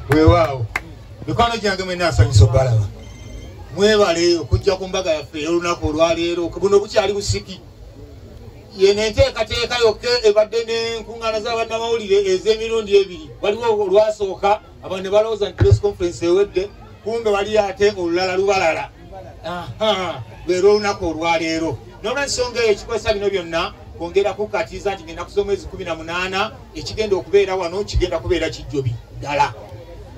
weewaawo mikwano gyange mwena asanyusa obalaba mwebale okujja ku mbaga yaffe ey'olunaku olwaleero buno bukyali busiki yeno enteekateeka yokka ebadde n'enkuŋŋaana z'abannamawulire ez'emirundi ebiri waliwo olwasooka abantu ne balowooza nti press conference ewedde kumbe wali ate olulala lubalala lwera olunaku olwaleero nolwensonga eyo ekikozesa bino byonna kwongera kukatiza nti ngenda kusoma ezi kumi na munaana ekigenda okubeera wano kigenda kubeera kijjobi ddala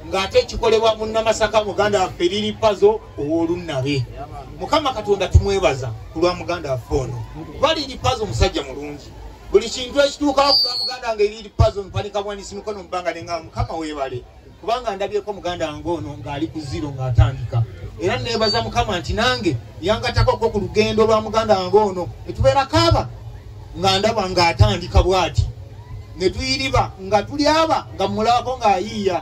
ng'ate kikolebwa munnamasaka muganda waffe liri pazo ow'olunnabe mukama katonda tumwebaza ku lwa muganda waffe ono kuba liri pazo omusajja mulungi buli kintu ekituukawo ku lwa muganda nga eriri pazo mpanika bwanisi mikono mubanga nenga mukama weebale kubanga ndabyeko muganda wange ono ng'ali ku ziro ng'atandika era neebaza mukama nti nange yangatako ko ku lugendo lwa muganda wange ono etubeera kaaba nga ndaba ng'atandika bw'ati ne tuyiriba nga tuli aba nga mmulabako ng'ayiiya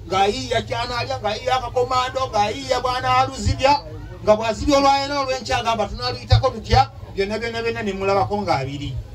ng'ayiiya kyanaalya ng'ayiiya akakomando ng'ayiiya bwanaaluzibya nga bwazibya olwayena olw'enkyagamba tunaaluyitako tutya byonna byonna byonna ne mmulabako ng'abiri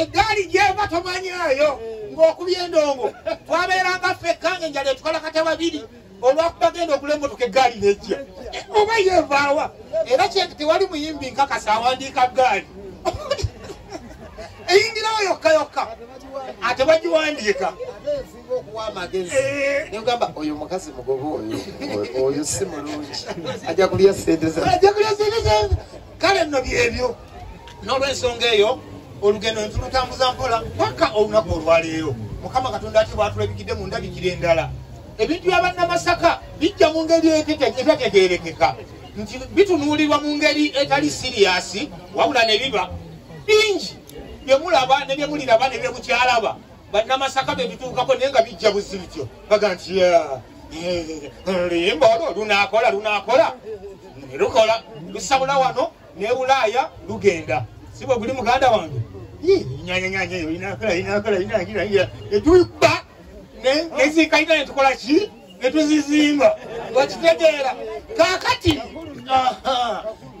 eggaali gyeva tomanyaayo mm. ng'okubya endongo twabeeranga ffekka nga enjala etukalakata babiri olwakuba genda okula emotoka eggaali nejja oba yevaawa era kyenti tewali muyimbi nkakasa awandiika ggaali eyingirawo yokka yokka ate bagiwandiika eh. nogamba oyo mukazi mugoba oyo oyo si mulungi ajja kulya sente kale nno byebyo n'olwensonga eyo olugendo ne tulutambuza mpola paka olunaku olwaleero mukama katonda ati bwatulabikidde mu ndabikira endala ebintu bya bannamasaka bijja mu ngeri etategeerekeka nti bitunuulirwa mu ngeri etali siriyasi wabula ne biba bingi bye mulaba ne bye muliraba ne bye mukyalaba bannamasaka bye bituukako naye nga bijja buzibityo baga nti limba olwo lunaakola lunaakola lukola lusabula wano ne bulaaya lugenda si bwe guli muganda wange etubba neziikaina netukola ki netuzizimba wakitegeera kakati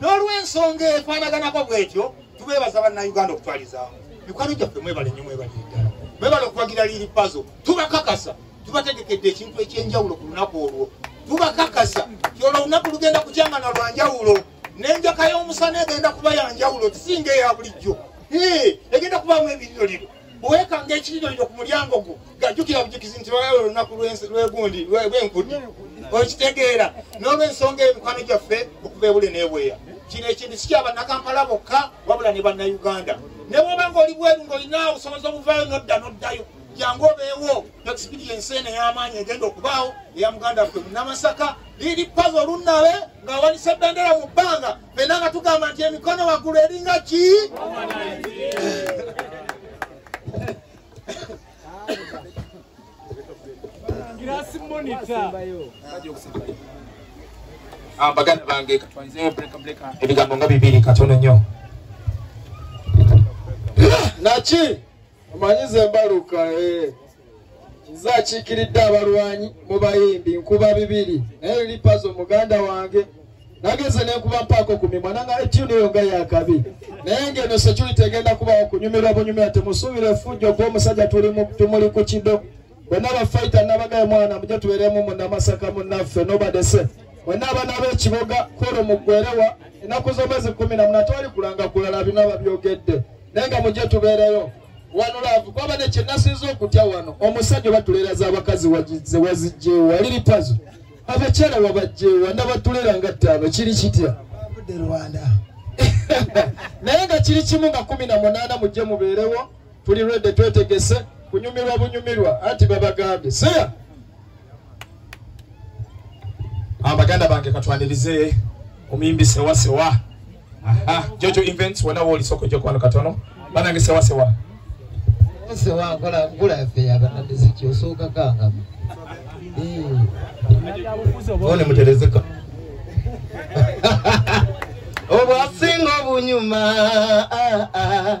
n'olwensonga efaanaganako bwetyo tubeebaza bannayuganda okutwalizamu mikwano gyaffe mwebale nyo mwebale eddala mwebale okuwagira liri pazo tubakakasa tubategekedde ekintu ekyenjawulo ku lunaku olwo tubakakasa ti olwo olunaku lugenda kukyangana lwanjawulo n'enjaka y'omusana egenda kuba yanjawulo kisinga eya bulijjo egenda kubaamu ebinnyoliro bwekanga ekiriroliro ku mulyango gwo gajjukira bujukizi nti lwalaba olunaku lwegundi lwenkudi okitegeera n'olwensonga emikwano gyaffe okuva ebule n'ebweya kino ekintu sikyabannakampala bokka wabula ne bannayuganda ne bwoba nga oli bweru ng'olina obusobozi obuvaayo nodda noddayo jangu obeewo experiensi eno ey'amaanyi egenda okubaawo eya muganda ffe munamasaka liri paza olunnabe ng'awanise bendera mu bbanga fena nga tugamba nti emikono waggulu eringa ki ah, baganda bange katwanzeyo bulekableka ebigambo nga bibiri katono nnyo naki omanyi ze mbaluka eh. nze akiikiridde abalwanyi mu bayimbi nkuba bibiri naye lipazo muganda wange nageze nenkuba mpaako ku mimwa nanga etyuni eyo nga yakabi naye ngeno security egenda kubawo kunyumirwa bunyumira temusuubira efujjo gwomusajja tumuli ku kido bonna bafaita nabagaye mwana muje tubeeremu munamasaka munaffe nobadese mwenna abaana b'ekiboga kwolwo muggwerewa ennaku z'omwezi kumi na muna twali kulanga kulala bino ababyogedde naye nga mujje tubeereyo wano laavu kwaba ne kyenasinza okutya wano omusajja oba tuleera z'abakazi ze wazijjeewa liri pazo abakyala wabajjeewa nabatuleera nga ttaano kiri kitya naye nga kiri kimu nga kumi na munaana mujje mubeerewo tuli rwedde twetegese kunyumirwa bunyumirwa anti babagambye seya abaganda ah, bange katwanirize omuyimbi sewasewa jojo events wona wooli soko jokwano katono banange sewasewa sewa nkola nkula yaffe yabanamiziki osooka kangamu one muterezeka obwasinga obunyuma ah, ah.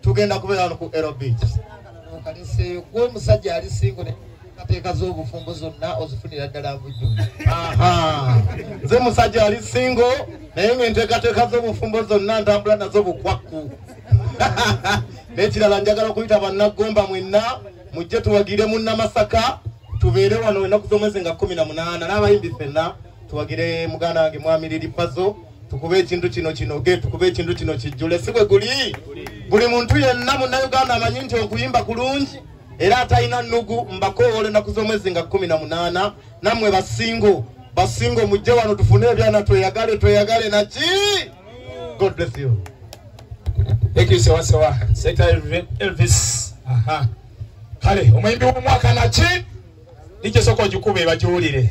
tugenda kubeera wano ku ero beach kaliseeyo gwe omusajja ali singo nateekateeka z'obufumbo zonna ozifunira ddala bujju nze musajja ali singo naye nga enteekateeka z'obufumbo zonna ntambula nazo bukwakku n'ekirala njagala okuyita bannaggomba mwenna mujje tuwagire mu namasaka tubeere wano enaku z'omwezi nga kumi na munaana n'abayimbi fenna tuwagire muganda wange mwami liripazo tukube ekintu kino kinoge tukube ekintu kino kijjule si bwe guli buli muntu yenna munnayuganda amanyi nti okuyimba kulungi era atalina nnugu mbakoowola ennaku z'omwezi nga kumi na munaana nammwe basingo basingo mujje wano tufune ebyana tweyagale tweyagale naki god bless you thank you sewa sewa seta elvis aha kale omuyimbi w'omwaka naki nikisoko ogikube bagiwulire